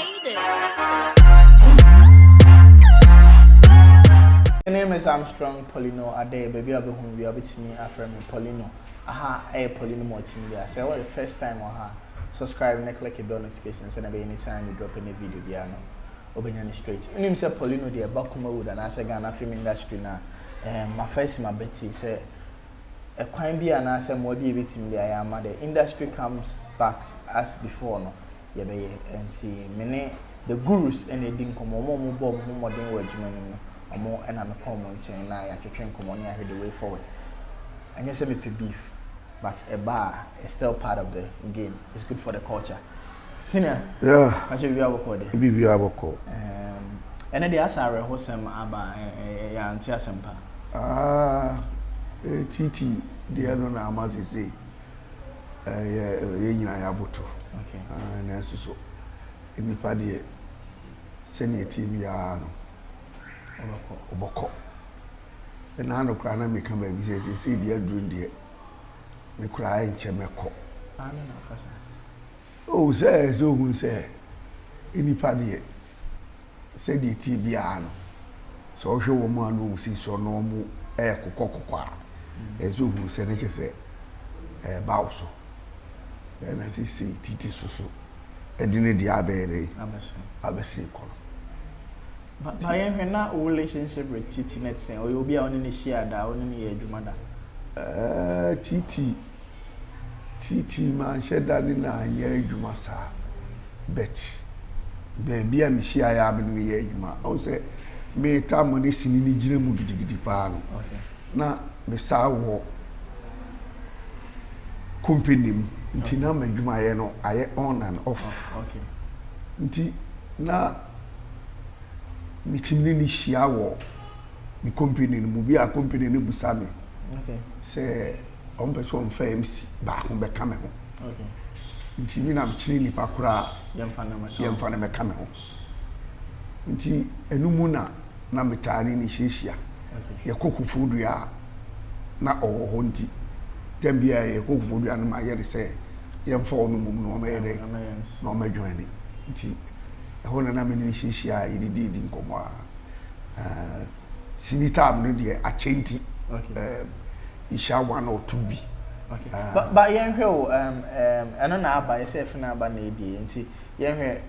My name is Armstrong Paulino Adeh, baabi a wobɛhu me bia wobɛtumi afrɛ me Paulino. Aha ɛyɛ Paulino Multimedia. Sɛ ɛwɔ the first time wɔ ha, subscribe na click bell notification sɛdeɛ ɛbɛyɛ anytime me drop any video biara no, wobɛnya no straight. Wonim sɛ Paulino deɛ ɛba Kumawood anaasɛ Ghana film industry no a, eh, mafa asi mabati sɛ ɛkwan bi anaasɛ mmoa bi a ɛbɛtumi de ayɛ ama the industry comes back as before no. yɛbɛyɛ. Nti me ne the gurus na edi nkɔmmɔ, wɔn a wɔbɔ wɔn ho mmɔden wɔ adwuma no mu, wɔn na mekɔ wɔn nkyɛn na yɛatwetwe nkɔmmɔ na yɛahwɛ the way forward. Ɛnyɛ sɛ mepɛ beef, but ɛba a, it's still part of the game, it's good for the culture. Senior, yeah. Ahyɛ biribiara bɔkɔɔ deɛ? Biribiara bɔkɔɔ. Um, ɛnɛ deɛ asa awerɛhosɛm aba, yɛante asɛm pa. Ah, eh, titi deɛ no na ama sesei. yɛn nyinaa yɛaboto. Nanso so nnipa deɛ, sɛdeɛ ɛteɛ biara no, wɔbɛkɔ. Ɛna ano koraa na meka baabi sɛ seesei deɛ aduru deɛ, me koraa nkyɛ mɛkɔ. Oh, sɛ sɛ ohunu sɛ nnipa deɛ, sɛdeɛ ɛteɛ biara no, sɛ ɔhwɛ wɔn a na wɔn si soɔ na wɔn ɛrekokɔ kokɔ a, ɛsɛ sɛ ohunu sɛ na kyɛ sɛ ɛreba wo so. Ɛna sesei titi so so ɛde ne deɛ abɛyɛ dɛ abɛsen kɔ no. But ma yɛn hwɛ na wo relationship with titi no te sɛn? Ɔyɛ obi a wo ne no hyia da, wo ne no yɛ adwuma da? Ɛɛ titi Titiriw manhyɛ da ne no anyɛ adwuma saa, but baabi a mihyiae a me ne no yɛɛ adwuma, ɔhu sɛ me tam no ne sini no gyina mu gidigidi paa no, na mesan wɔ company mu nti na m'adwumayɛ no ayɛ on and off. Nti na metumi ne no hyia wɔ me company no mu. Bi a company no bisa me sɛ. wɔn pɛ sɛ wɔn fa MC baako bɛ ka me ho. Nti mi na mi kyerɛ nipa koraa yɛn fa na mɛ ka me ho. Nti ɛnu mu na na mi taa ne ne hyiahyia. Yɛ kɔ kufuo dua a na ɔwɔ hɔ nti tɛm bi a yɛ kɔ kufuo dua no ma yɛ de sɛ yɛn fa ɔno mu na ɔmɛ yɛ dɛ na ɔmɛ dwɔn ne. Nti ɛhɔ na na mi ne ne hyiahyia yɛ de di di nkɔmɔ a. Sini taam no deɛ akyɛ nti. nhyia one or two bi. Okay. Uh, but, but yɛn hwɛ o, um, um, ɛno na aba yɛ sɛ ɛfɛ na aba na ebie nti yɛn hwɛ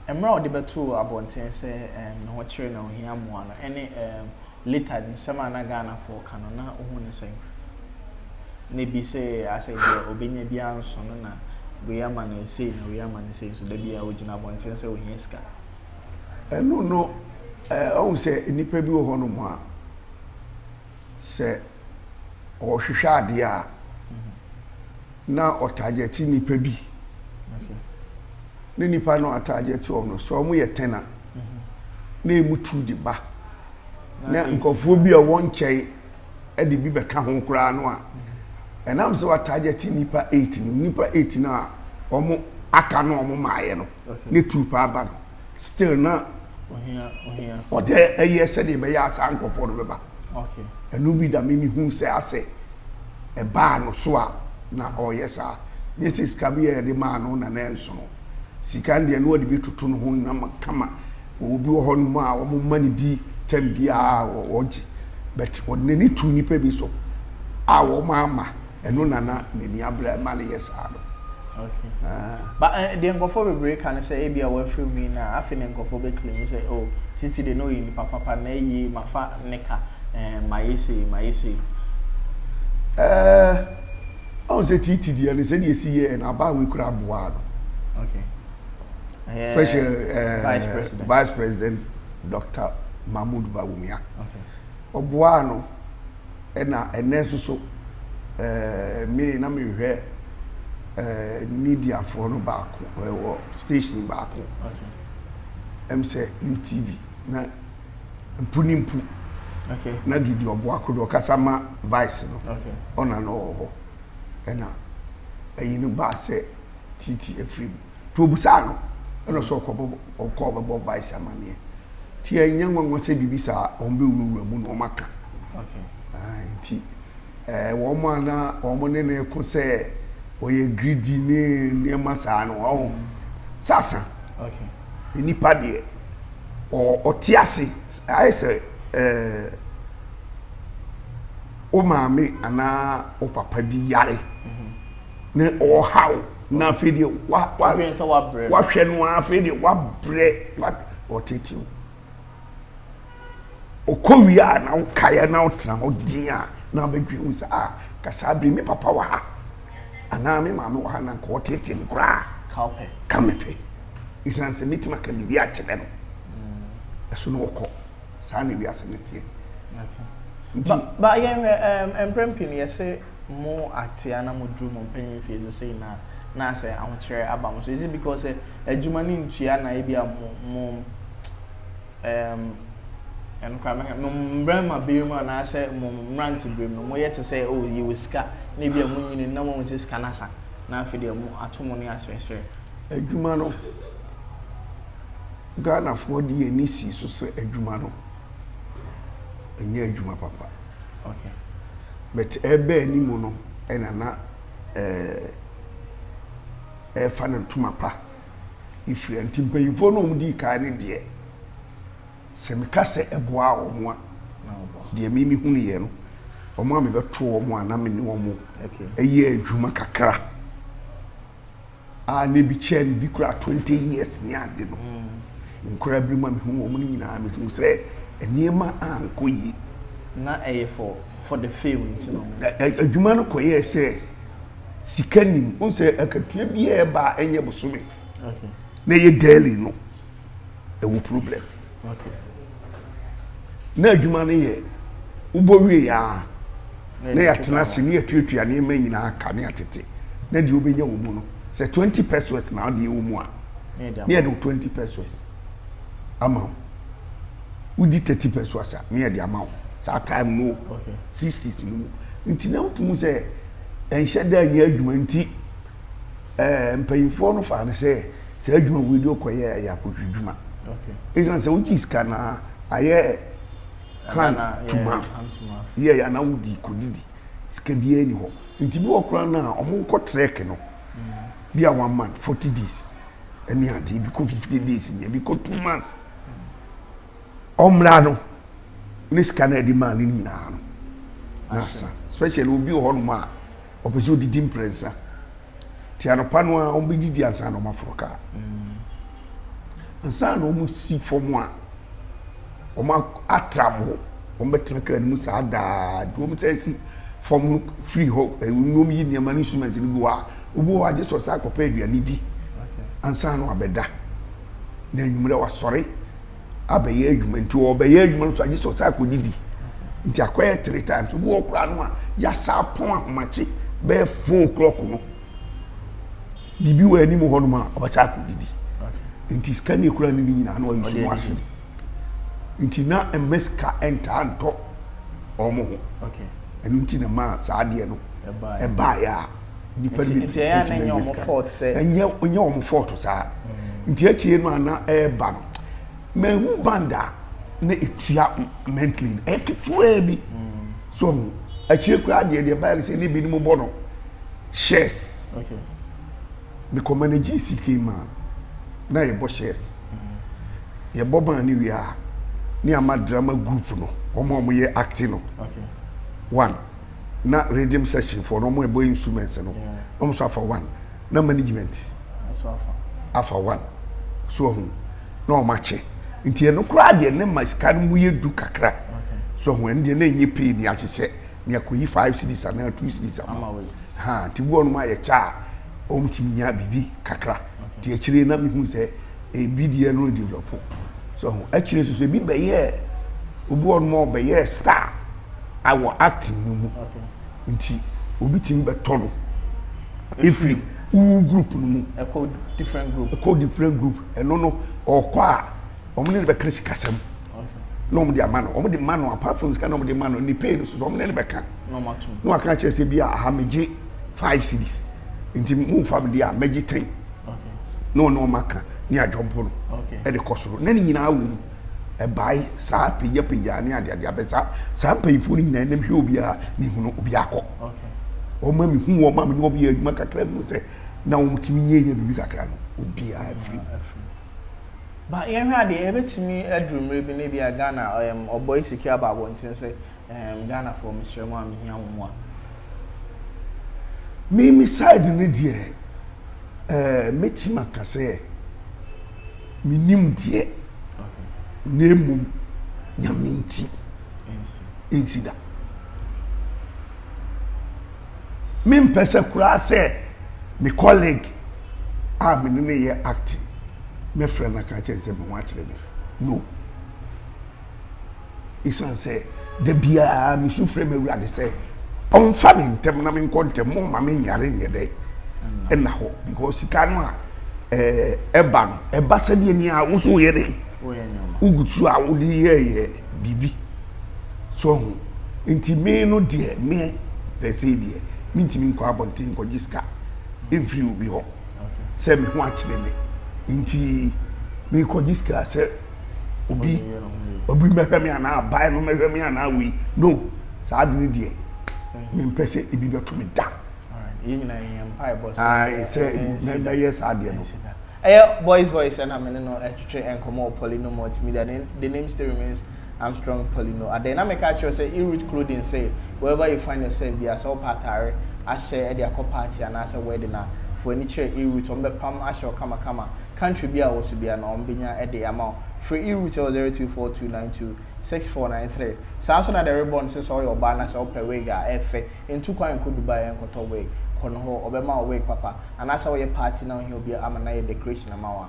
mmerɛ a ɔde bɛto abɔnten sɛ um, ne ho kyerɛ na ohia mmoa no ɛne um, later nsɛm a na Ghana fo ka no na ohun ne sɛn na ebi sɛ asɛ deɛ obenya bi anso no na wei ama no esei na wei ama no esei so dabi a ogyina abɔnten sɛ ohia sika. ɛno no ɛɛ eh, ɔhun sɛ nnipa bi wɔ hɔnom a. sɛ ɔrehwehwɛ adeɛ a, na ɔtagyɛte nipa bi. Ne nipa no atagyɛte wɔn no, sɛ wɔn yɛ tɛn a, na emu tu de ba. Na nkurɔfoɔ bi a wɔn nkyɛn de bi bɛka ho koraa no a, ɛnam sɛ watagyɛte nipa eight no, nipa eight no a wɔn aka no a wɔn maayɛ no. ne troop aba no still na ɔdɛ ɛyɛ sɛdeɛ ɛbɛyɛ a saa nkurɔfoɔ no bɛba ɛno bi da me me hu sɛ asɛ ɛbaa no so a na ɔyɛ saa nyɛ sɛ sika bi a yɛde maa no na na ɛnsono sika deɛ no ɔde bi toto no ho nam kama wɔwɔ bi wɔ hɔ nom a wɔn ma no bi tɛm biara wɔgye but ɔde n'ani tu nipa bi so a wɔn ama Ɛno na na n'ani abere a ɛma no yɛ saa no. Okay. Ah. Ba eh, deɛ nkurɔfoɔ bebree ka ne sɛ ebi a wafiri mu yi na afei na nkurɔfoɔ bɛ claim sɛ oh titi de na ɔyɛ nipa papa na ɛyie mafa ne ka eh, mayɛ sei mayɛ sei. Eh, ɔn sɛ titi deɛ no sɛdeɛ esi yɛ na abaa wei kura aboa no. Okay. Eh, Special eh, Vice President. Vice President Dr. Mahmoud Bawumia. Okay. Ɔboa no. Ɛna ɛnɛ nso so eh, me na mehwɛ eh, mediafoɔ no baako eh, wɔ station baako Okay. ɛm sɛ UTV na mpu ne mpu Okay. na Gidi Ɔboako deɛ ɔkasa ma Vice no Okay. ɔna na ɔwɔ hɔ ɛna ɛyi no baa sɛ Titi afiri mu Nti obisaa no na ɔsɛ ɔkɔbɔ ɔkɔ ɔbɛbɔ vice amaneɛ nti ɛnyɛ nwanwa sɛ biribi saa wɔn bɛwurawura mu na wɔn aka nti wɔn a na wɔn ne ne ko sɛ ɔyɛ greedy ne nneɛma saa no ɔho sasa nipa deɛ ɔte ase ayɛ sɛ ɛɛ wo maame anaa wo papa bi yare ne ɔhaw. na afei deɛ wa wa Wodwen sɛ wabrɛ no. wahwɛ no ara afei deɛ wabrɛ wa ɔtetew ɔkɔ wie a na wokaeɛ na wotena hɔ din a na wobɛdwen mu sɛ a ah, ka saa bere me papa wɔ ha anaa me maame wɔ ha na nka ɔtete me koraa kawpɛ ka mepɛ ɛsiane sɛ mɛtumi aka biribi akyerɛ no ɛso na ɔkɔ saa na wiase no teɛ nti. Ba yɛnhwɛ ɛɛm mprɛn pii no yɛsɛ mo atea na mo duru mo mpanyin mfie so sei na na asɛ ahokyerɛ aba mo so is it because sɛ adwuma ne ntua na ebi a mo mo ɛɛm ɛno koraa mɛka mo mmarima bere mu anaasɛ mo mmerante bere mu no mo yɛ te sɛ o oh, yɛ wɔ sika na ebi a mo nyini na mo sɛ sika n'asa na afei deɛ mo ato mo ne asrɛsrɛ. adwuma no. Ghanafoɔ de yɛn ani sii so sɛ adwuma no nyɛ adwuma papa. But ɛreba anim no na na ɛrefa no ntoma pa firi a nti mpanyinfoɔ no a wɔn dii kan no deɛ sɛ meka sɛ ɛboaa wɔn a deɛ me me hunu yɛ no wɔn a mebɛto wɔn a na me ne wɔn yɛ adwuma kakra a na ebi kyɛɛ me bi koraa twenty years ne ade no nkoraa bi mu a mehu wɔn no nyinaa mehu sɛ nneɛma ankɔ yie. na ɛyɛ for for the fame nti na wɔn. Ɛ- ɛ- adwuma no kɔyɛɛ sɛ sika nim wohu sɛ akatua biaa ɛba a ɛnyɛ bosome okay na ɛyɛ daily no ɛwɔ problem na adwuma no yɛ wobɔ wie a na yɛatena ase ne yɛtuatua nneɛma nyinaa ka ne atete na deɛ wobɛnya wɔ mu no sɛ 20 pesos na adeɛ wɔ mu a ne yɛde wo 20 pesos ama wo wodi 30 pesos a ne yɛde ama wo saa time no 60s no mu nti na wotumu sɛ ɛnhyɛ da nyɛ adwuma nti eh, mpanyimfoɔ no faa no sɛ saa adwuma wei de ɔkɔyɛ ɛyɛ akɔtwidwuma ɛsiane sɛ wogye sika no a ayɛ hand to mouth yɛ yɛ anaa wodi kɔdidi sika biara ni hɔ nti bi wɔ koraa no a ɔmo kɔ trek no mm. bi a one month forty days ɛne adeɛ bi kɔ fifty days ni ebi kɔ two months ɔmmra no ne sika no ɛde maa no nyinaa no na asa especially obi wɔ hɔnom a Ɔpɛ sɛ ɔdidi mprɛnsa. Nti anɔpa no a wɔbɛdidi ansa na wɔaforo kaa. Ansa na wɔsi fam a, wɔatra mo hɔ. Wɔbɛtena kaa no mu saa daa. Nti wɔn sɛ si fam no firi hɔ, ɛnum yi nneɛma no instruments no bi wɔ a, obi wɔ hɔ a gye sɛ ɔsan akɔpɛ aduane di ansa na wabɛda. Na anwummerɛ wasɔre. abɛyɛ adwuma nti ɔbɛyɛ adwuma no so agye sɛ ɔsan akɔdidi nti akɔyɛ three times obi wɔ koraa no a yasa apɔn ahomakye bɛyɛ four o'clock no biribi wɔ anim hɔ nom a ɔbɛsan akɔdidi nti sika ne ekura ne ne nyinaa no ɔyɛ ɔno ase nti na mma sika ntaa ntɔ wɔn ho ɛno nti na maa saa adeɛ no ɛbaeɛ a Nnipa no bi tumi nya sika. Nti ɛnyɛ wɔn fault sɛ. Ɛnyɛ ɛnyɛ wɔn fault saa. Nti akyire no a na ɛreba no, mɛhu band a na etua mentally no ɛyɛ ketewa bi. So ɔho akyire koraa deɛ deɛ ɛbaeɛ no sɛ ne binom bɔ no shares. Okay. Mekɔ manage CK man na yɛbɔ shares. Yɛbɔ band no wie a ne ama drama group no wɔn a wɔyɛ acting no. Okay. One. na rhythm section foɔ no wɔn a ɛbɔ instruments no na wɔn nso afa one na management afa one so ɔho na wɔn akyɛ nti ɛno koraa deɛ ne ma sika no mu yɛ du kakra so ɔho ɛno deɛ na enye pay ni ahyehyɛ ni akɔyi five cities anaa two cities ama ha nti bi wɔn ayɛ kyɛ a wɔn tumi nya biribi kakra nti akyire na mi hu sɛ. ebi deɛ no develop so ho akyire soso ebi bɛyɛɛ obi wɔ nom a ɔbɛyɛɛ star awɔ acting no mu nti obi tumi bɛtɔ no efiri wo group no mu ɛkɔ different group ɛkɔ different group ɛno no ɔkɔ a wɔn ne no bɛka sikasɛm. na wɔn de ama no wɔn de ma no apart from sika na wɔn de ma no ne pay no soso wɔn ne no bɛka na wɔn ato na wɔn aka kyerɛ sɛ bi a aha megye five cities nti mu nfa mi di a megye ten na wɔn ne wɔn aka ne adwompo no ɛde kɔ soro na ne nyinaa wɔ mu ɛbae saa pagyapagya ne adeade abɛ saa saa mpanyinfoɔ no nyinaa nam hwɛ obiara ne hunu obiara kɔ wɔn ma mi hu wɔn ma mi ne wɔn yɛ adwuma kakra mu sɛ na wɔn ti mi nyɛ yɛ biribi kakra no obiara firi mu. But yɛnhwɛ adeɛ, ɛbɛtumi aduru mmerɛ bi na ebia Ghana ɛɛm ɔbɔe sika aba abɔnten sɛ ɛɛm Ghanafoɔ mesrɛ mo a mehia mo mmoa. Me me side no deɛ ɛɛ mɛtumi aka sɛ menim deɛ Okay. na mmom Nyame nti Ɛnsi. ɛnsi da. mempɛ sɛ koraa sɛ me colleague a me ne no yɛ acting mɛfrɛ no aka akyerɛ no sɛ me ho akyere me. No. Esiane sɛ da biara misu frɛ m'Awurade sɛ ɔmfa me ntɛm na menkɔ ntɛm, mo mma menyare nyɛ dɛ ɛna hɔ because sika no a ɛba no ɛba sɛdeɛ nea wo nso woyɛ dɛ wogu so a wode yɛɛyɛ biribi. So wahu? Nti me no deɛ, me per se deɛ, mentumi nkɔ abɔnten nkɔgye sika mfiri obi hɔ sɛ me ho akyere me. Nti mekɔgye sika sɛ obi obi mɛhwɛ me anaa aban no mɛhwɛ me anaa wei. No, saa ade no deɛ, mempɛ sɛ ebi bɛto me da. Yɛn nyinaa yɛn mpaebɔ sɛ Ae, sɛ ɛnsi da. mɛyɛ saa deɛ no. Ɛnsi da. Ɛyɛ boys boys ɛna me ne no ɛtwetwe nkɔmmɔ wɔ Poly no multimedia. The, the name still remains Armstrong Pali no adɛn? Na meka akyerɛ wo sɛ i root clothing sɛ wherever you find yourself biara sɛ wopɛ atare ahyɛ de akɔ party anaasɛ wedding a fo ani kyerɛ i root wɔbɛpam ahyɛ wo kama kama country biara a wɔ so biara no wɔbɛnya de ama wo frɛ i root wɔ zero two four two nine two six four nine three saa nso na the ribbon nso sɛ woyɛ ɔbaa na sɛ wopɛ wig a ɛfɛ ntu kwan nkɔ Dubai nkɔtɔ wig kɔ no hɔ wɔbɛma wo wig papa anaasɛ woyɛ party na wohia obi ama no ayɛ decoration ama wo a.